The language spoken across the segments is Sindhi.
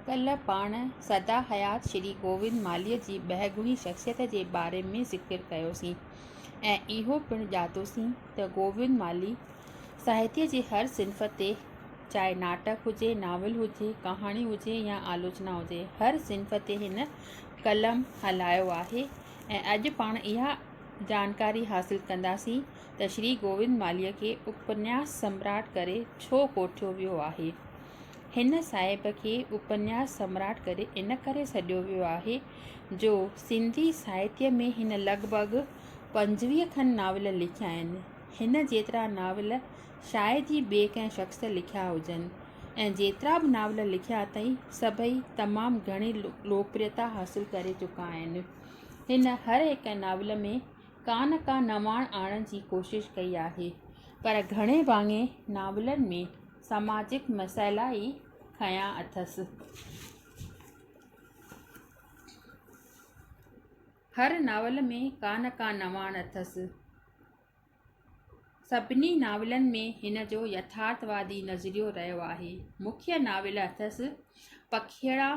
ڪلهه پاڻ سدا حيات شري گووند مالهيء جي ٻهگڻي شخصيت جي باري ۾ ذڪر ڪيوسين ۽ اهو پڻ ڄاتوسين ته گووند مالهي ساهتيه جي هر صنف تي چاهي ناٽڪ هجي، ناول هجي، ڪهاڻي هجي يا آلوچنا هجي هر صنف تي هن قلم هلايو آهي ۽ اڄ پاڻ اها جانڪاري حاصل ڪنداسين ته شري گووند مالهيء کي اپنياس سمراٽ ڪري ڇو ڪوٺيو ويو آهي؟ هن صاحب کي اپنياس سمراٽ ڪري ان ڪري سڏيو ويو آهي جو سنڌي ساهتيه ۾ هن لڳ ڀڳ پنجويهه کن ناول لکيا آهن. هن جيترا ناول شايد ئي ٻئي ڪنهن شخص لکيا هجن ۽ جيترا به ناول لکيا اٿئي سڀئي تمام گهڻي لوڪپريتا حاصل ڪري چڪا آهن. هن هر هڪ ناول ۾ ڪا نه ڪا نواڻ آڻڻ جي ڪوشش ڪئي آهي، پر گهڻي ڀاڱي ناولن ۾ سماجڪ مسئلا ئي کنيا اٿس. هر ناول ۾ ڪا نه ڪا نواڻ اٿس. سڀني ناولن ۾ هن جو يٿارٿوادي نظريو رهيو آهي. مکيه ناول اٿس پکيئڙا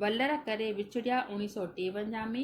ولر ڪري وڇڙيا اڻيهه سؤ ٽيونجاهه ۾،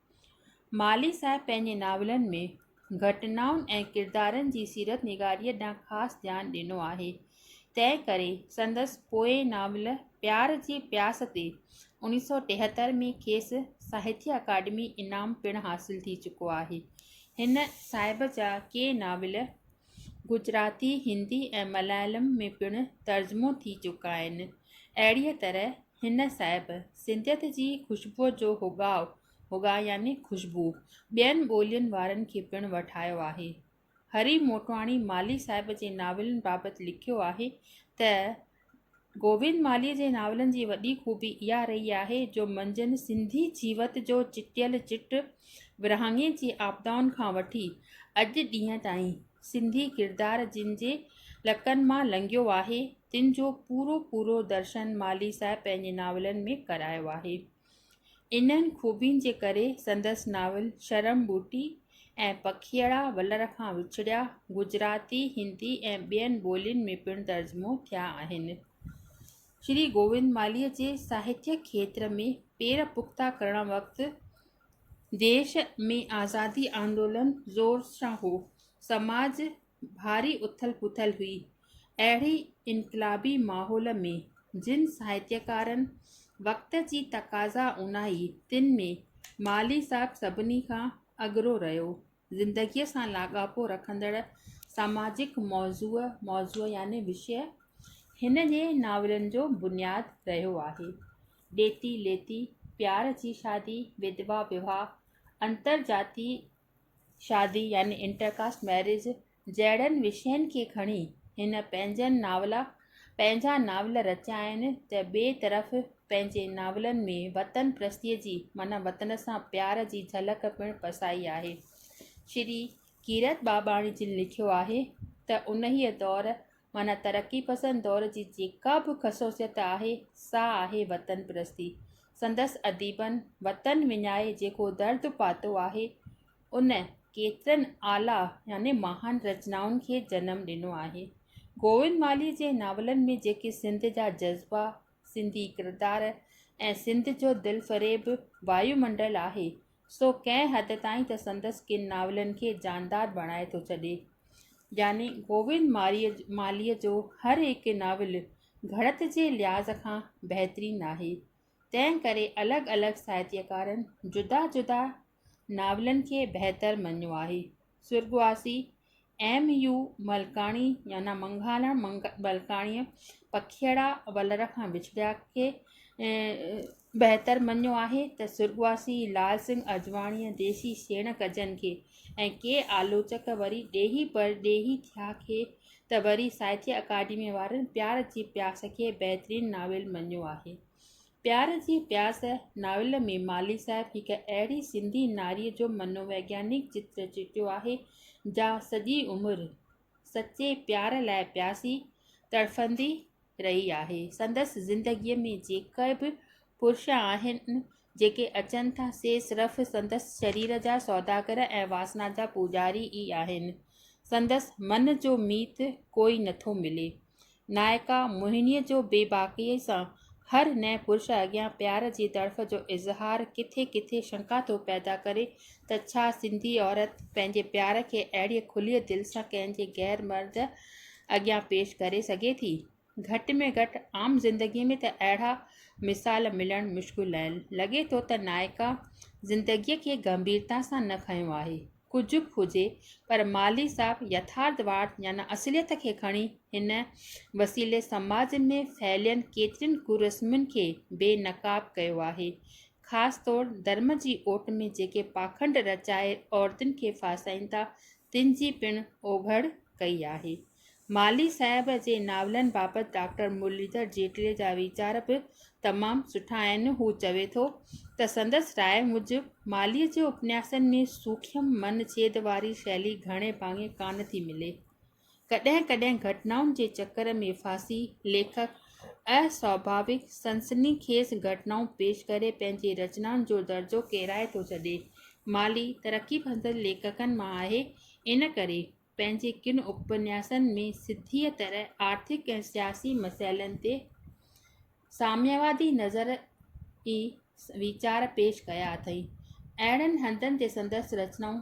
مالهي صاحب پنهنجي ناولن ۾ گهٽنائن ۽ ڪردارن جي سيرت نگاريء ڏانهن خاص ڌيان ڏنو آهي. تنهن ڪري سندس پوئين ناول پيار جي پياس تي انيس سؤ ٽيهتر ۾ کيس ساهتيه اڪاڊمي انعام پڻ حاصل ٿي چڪو آهي. هن صاحب جا ڪي ناول گجراتي، هندي ۽ مليالم ۾ پڻ ترجمو ٿي چڪا آهن. اهڙيء طرح. هن صاحب سنڌيت جي خوشبوء جو هوڳاء، هوڳاء يعني خوشبو، ٻين ٻولين وارن کي پڻ وٺايو آهي. هري موٽواڻي مالهي صاحب جي ناولن بابت لکيو آهي ته، گوبند مالهيء جي ناولن جي وڏي خوبي اها رهي آهي جو منجهن سنڌي جيوت جو چٽيل چٽ ورهاڱي جي آپدائن کان وٺي اڄ ڏينهن تائين، سنڌي ڪردار جن جي لڪن مان لنگهيو آهي، تن جو پورو پورو درشن مالهي صاحب پنهنجي ناولن ۾ ڪرايو آهي. انهن خوبين جي ڪري سندس ناول شرم ٻوٽي ۽ پکيئڙا ولر کان وڇڙيا گجراتي، هندي ۽ ٻين ٻولين ۾ پڻ ترجمو ٿيا آهن. شري گووند مالهيء جي ساهتيه کيتر ۾ پير پختا ڪرڻ وقت ديش ۾ آزادي آندولن زور سان هو. سماج ڀاري اٿل پٿل هئي. اهڙي انقلابي ماحول ۾ جن ساهتيڪارن وقت جي تقاضا اونائي تن ۾ مالهي صاحب سڀني کان اڳرو رهيو. زندگيء سان لاڳاپو رکندڙ ساماجڪ موضوع، موضوع يعني وشيه، هن جي ناولن جو بنياد رهيو آهي. ڏيتي ليتي، پيار جي شادي، وڌوا وواهه، انتر جاتي شادي يعني Inter Caste Marriage، جهڙن وشين کي کڻي هن پنهنجن ناول پنهنجا ناول رچيا آهن ته ٻئي طرف پنهنجي ناولن ۾ وطن پرستيء جي معنيٰ وطن سان پيار جي جهلڪ پڻ پسائي آهي. شري ڪيرت ٻاٻاڻي جن لکيو آهي ته انهيء دور معنيٰ ترقي پسند دور جي جيڪا به خصوصيت آهي سا آهي وطن پرستي. سندس اديبن وطن وڃائي جيڪو درد پاتو آهي، ان ڪيترن اعليٰ يعني مهان رچنائن کي جنم ڏنو آهي. گووند مالهيء جي ناولن ۾ جيڪي سنڌ جا جذبا، سنڌي ڪردار ۽ سنڌ جو دلفريب وايو منڊل آهي، سو ڪنهن حد تائين ته سندس ڪن ناولن کي جاندار بڻائي ٿو ڇڏي. يعني گووند مالهيء جو هر هڪ ناول گهڙت جي لحاظ کان بهترين آهي. تنهن ڪري الڳ الڳ ساهتيڪارن جدا جدا ناولن کي بهتر مڃيو آهي. سرڳواسي ايم يو ملڪاڻي يعنيٰ منگهالا ملڪاڻيء پکيئڙا ولر کان وڇڙيا کي بهتر مڃيو آهي ته سرڳواسي لال سنگهه اجواڻيء ديسي سيڻ ڪجن کي ۽ ڪي آلوچڪ وري ڏيهي پرڏيهي ٿيا کي ته وري ساهتيه اڪاڊميء وارن پيار جي پياس کي بهترين ناول مڃيو آهي. پيار جي پياس ناول ۾ مالهي صاحب هڪ اهڙي سنڌي ناري جو منوويگيانڪ چتر چٽيو آهي، جا سڄي عمر سچي پيار لاء پياسي تڙڦندي رهي آهي. سندس زندگيء ۾ جيڪي به پرش آهن، جيڪي اچن ٿا، سي صرف سندس شرير جا سوداگر ۽ واسنا جا پوڄاري ئي آهن. سندس من جو ميت ڪوئي نٿو ملي. نائڪا موهنيء جو بي باڪيء سان هر نئين پرش اڳيان پيار جي تڙڦ جو اظهار ڪٿي ڪٿي شنڪا ٿو پيدا ڪري ته ڇا سنڌي عورت پنهنجي پيار کي اهڙيء کليء دل سان ڪنهن جي غير مرد اڳيان پيش ڪري سگهي ٿي؟ گهٽ ۾ گهٽ عام زندگيء ۾ ته اهڙا مثال ملڻ مشڪل آهن. لڳي ٿو ته نائڪا زندگيء کي گنڀيرتا سان نه کنيو آهي. ڪجهه به هجي پر مالهي صاحب يٿارٿواد يعني اصليت کي کڻي هن وسيلي سماج ۾ ڦهليل ڪيترين ڪرسمن کي بي نقاب ڪيو آهي. خاص طور ڌرم جي اوٽ ۾ جيڪي پاکنڊ رچائي عورتن کي ڦاسائين ٿا تن جي پڻ اوگهڙ ڪئي آهي. مالهي صاحب جي ناولن بابت ڊاڪٽر مرليڌر جيٽلي جا ويچار به تمام سٺا آهن. هو چوي ٿو ته سندس راء موجب مالهي جي اپنياسن ۾ سوکيم من ڇيد واري شيلي گهڻي ڀاڱي ڪانه ٿي ملي. ڪڏهن ڪڏهن گهٽنائن جي چڪر ۾ ڦاسي ليکڪ اسواڀاويڪ سنسني خيز گهٽنائون پيش ڪري پنهنجي رچنائن جو درجو ڪيرائي ٿو ڇڏي. مالهي ترقي پسند ليکڪن مان آهي ان ڪري پنهنجي ڪن اپنياسن ۾ سڌيء طرح آرٿڪ ۽ سياسي مسئلن تي ساميوادي نظر ئي ويچار پيش ڪيا اٿئي. اهڙن هنڌن تي سندس رچنائون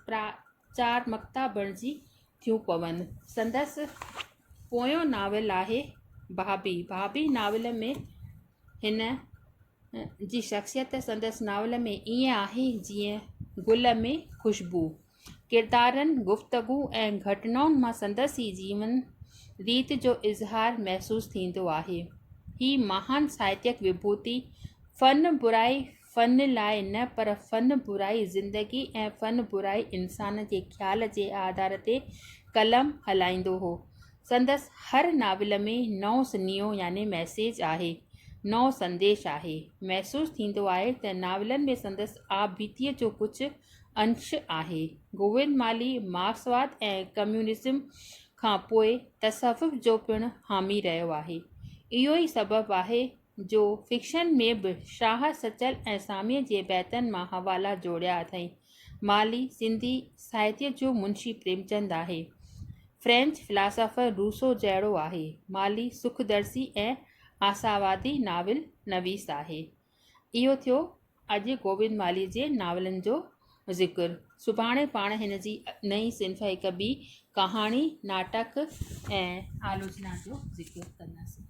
پراچارمڪتا بڻجي ٿيون پون. سندس پويون ناول آهي ڀاڀي. ڀاڀي ناول ۾ هن جي شخصيت سندس ناول ۾ ائين آهي جيئن گل ۾ خوشبو. ڪردارن، گفتگو ۽ گهٽنائن مان سندس ئي جيون ريت جو اظهار محسوس ٿيندو آهي. هي مهان ساهتيڪ وڀوتي فن برائي فن لاء نه پر فن برائي زندگي ۽ فن برائي انسان جي خيال جي آڌار تي قلم هلائيندو هو. سندس هر ناول ۾ نئون سنيهو يعني ميسيج آهي، نئون سنديش آهي. محسوس ٿيندو آهي ته ناولن ۾ سندس آپبيتيء جو ڪجهه انش آهي. گوئن مالي مارڪسواد ۽ ڪميونزم کان پوء تصوف جو پڻ حامي رهيو آهي. اهو ئي سبب آهي جو فڪشن ۾ به شاهه سچل ۽ ساميء جي بيتن مان حوالا جوڙيا اٿئين. مالي سنڌي ساهتيه جو منشي پريمچند آهي. فرينچ فلاسافر روسو جهڙو آهي. مالي سکدرسي ۽ آساوادي ناول نويس آهي. اهو ٿيو اڄ گوبند مالهيء جي ناولن جو ذڪر. سڀاڻي پاڻ هن جي نئين صنف هڪ ٻي ڪهاڻي، ناٽڪ ۽ آلوچنا جو ذڪر ڪنداسين.